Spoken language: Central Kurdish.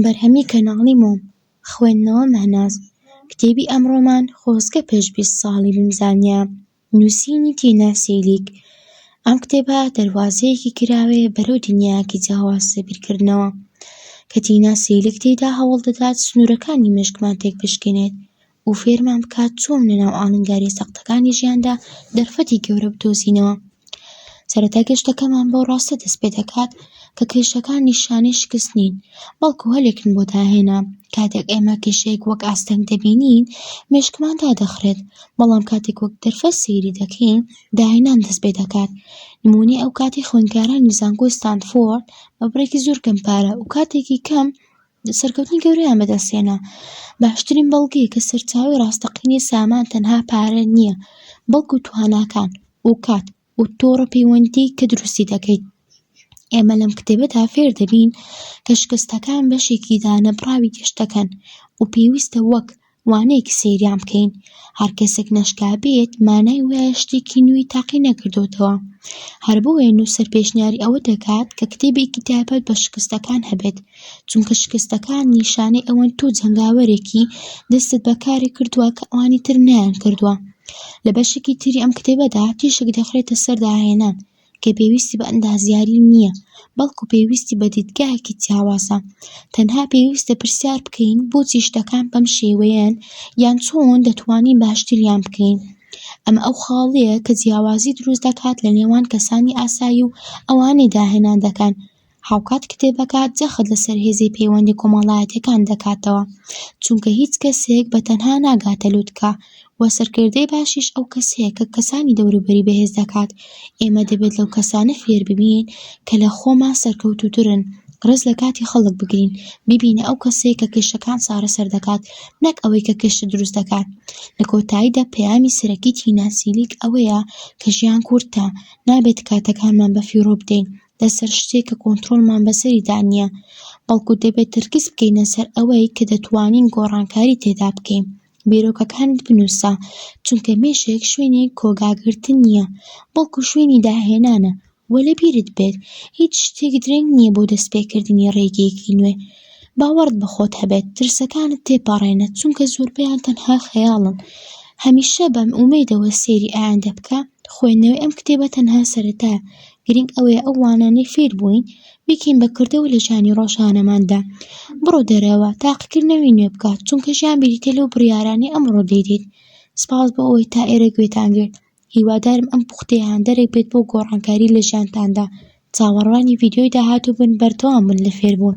بەرهەمی کەناڵی مۆم خوێندنەوە مەهناز کتێبی ئەمڕۆمان خۆزگە پێش بیست ساڵی بمزانیا نووسینی تینا سیلیک ئەم کتێبە دەروازەیەکی کراوەیە بەرەو دنیایەکی جیاواز لە بیرکردنەوە کە تینا سیلیک تێیدا هەوڵدەدات سنوورەکانی مێشکمان تێکبشکێنێت و فێرمان بکات چۆن لە ناو ئاڵنگاریە سەختەکانی ژیاندا دەرفەتی گەورە بدۆزینەوە. سەرەتا گەشتەکەمان بەو ڕاستە دەست پێ دەکات کە کێشەکان نیشانەی شکست نین، بەڵکو هەلێکن بۆ داهێنان. کاتێک ئێمە کێشەیەک وەک ئاستەنگ دەبینین، مێشکمان دادەخرێت، بەڵام کاتێک وەک دەرفەت سەیری دەکەین، داهێنان دەست پێ دەکات. نموونەی ئەو کاتی خوێندکارانی زانکۆی ستانفۆرد بە بڕێکی زۆر کەم پارە و کاتێکی کەم، سەرکەوتنی گەورەیان بەدەستهێنا. باشترین بەڵگەی کە سەرچاوەی ڕاستەقینەی سامان تەنها پارە نییە، بەڵکو تواناکان و کات و تۆڕە پەیوەندی کە دروستی دەکەیت. ئێمە لەم کتێبەدا فێر دەبین کە شکستەکان بەشێکی دانەبڕاوی گەشتەکەن و پێویستە وەک وانەیەکی سەیریان بکەین، هەر کەسێک ناشکا بێت مانای وایە شتێکی نوێی تاقی نەکردۆتەوە، هەر بۆیە نووسەر پێشنیاری ئەوە دەکات کە کتێبێکی تایبەت بە شکستەکان هەبێت، چونکە شکستەکان نیشانەی ئەوەن تۆ جەنگاوەرێکی دەستت بە کارێک کردووە کە ئەوانی تر نەیانکردووە. لە بەشێکی تری ئەم کتێبەدا تیشک دەخرێتە سەر داهێنان کە پێویستی بە ئەندازیاری نییە، بەڵکو پێویستی بە دیدگایەکی جیاوازە. تەنها پێویستە پرسیار بکەین بۆچی شتەکان بەم شێوەیەن یان چۆن دەتوانین باشتریان بکەین؟ ئەمە ئەو خاڵەیە کە جیاوازی دروست دەکات لە نێوان کەسانی ئاسایی و ئەوانەی داهێنان دەکەن، هاوکات کتێبەکە جەخت لەسەر هێزی پەیوەندی کۆمەڵایەتیەکان دەکاتەوە، چونکە هیچ کەسێک بە تەنها ناگاتە لوتکە، و سەرکردەی باشیش ئەو کەسەیە کە کەسانی دەوروبەری بەهێز دەکات. ئێمە دەبێت لەو کەسانە فێر ببین کە لە خۆمان سەرکەوتووترن، ڕێز لە کاتی خەڵک بگرین، ببینە ئەو کەسەیە کە کێشەکان چارەسەر دەکات، نەک ئەوەی کە کێشە دروست دەکات. لە کۆتاییدا پەیامی سەرەکی تینا سیلیک ئەوەیە کە ژیان کورتە، نابێت کاتەکانمان بەفیڕۆ بدەین، لەسەر شتێک کە کۆنترۆڵمان بەسەریدا نییە، بەڵکو دەبێت تەرکیز بکەینە سەر ئەوەی کە دەتوانین گۆڕانکاری تێدا بکەین. بیرۆکەکانت بنووسە، چونکە مێشک شوێنی کۆگاگرتن نییە، بەڵکو شوێنی داهێنانە و لەبیرت بێت هیچ شتێک درەنگ نییە بۆ دەستپێکردنی ڕێگەیەکی نوێ. باوەڕت بە خۆت هەبێت، ترسەکانت تێپەڕێنە، چونکە زۆربەیان تەنها خەیاڵن. هەمیشە بە ئومێدەوە سەیری ئایندە بکە، خوێندنەوەی ئەم کتێبە تەنها سەرەتایە، گرنگ ئەوەیە ئەو وانانەی فێر بووین بیکەین بە کردەوە لە ژیانی ڕۆژانەماندا. بڕۆ دەرەوە تاقیکردنەوەی نوێ بکە، چونکە ژیان بریتییە لەو بڕیارانەی ئەمڕۆ دەیدەیت. سپاس بۆ ئەوەی تا ئێرە گوێتان گرت. هیوادارم ئەم پوختەیە هاندەرێک بێت بۆ گۆڕانکاری لە ژیانتاندا. چاوەڕوانی ڤیدیۆی داهاتوو بن، بەردەوام بن لە فێربوون.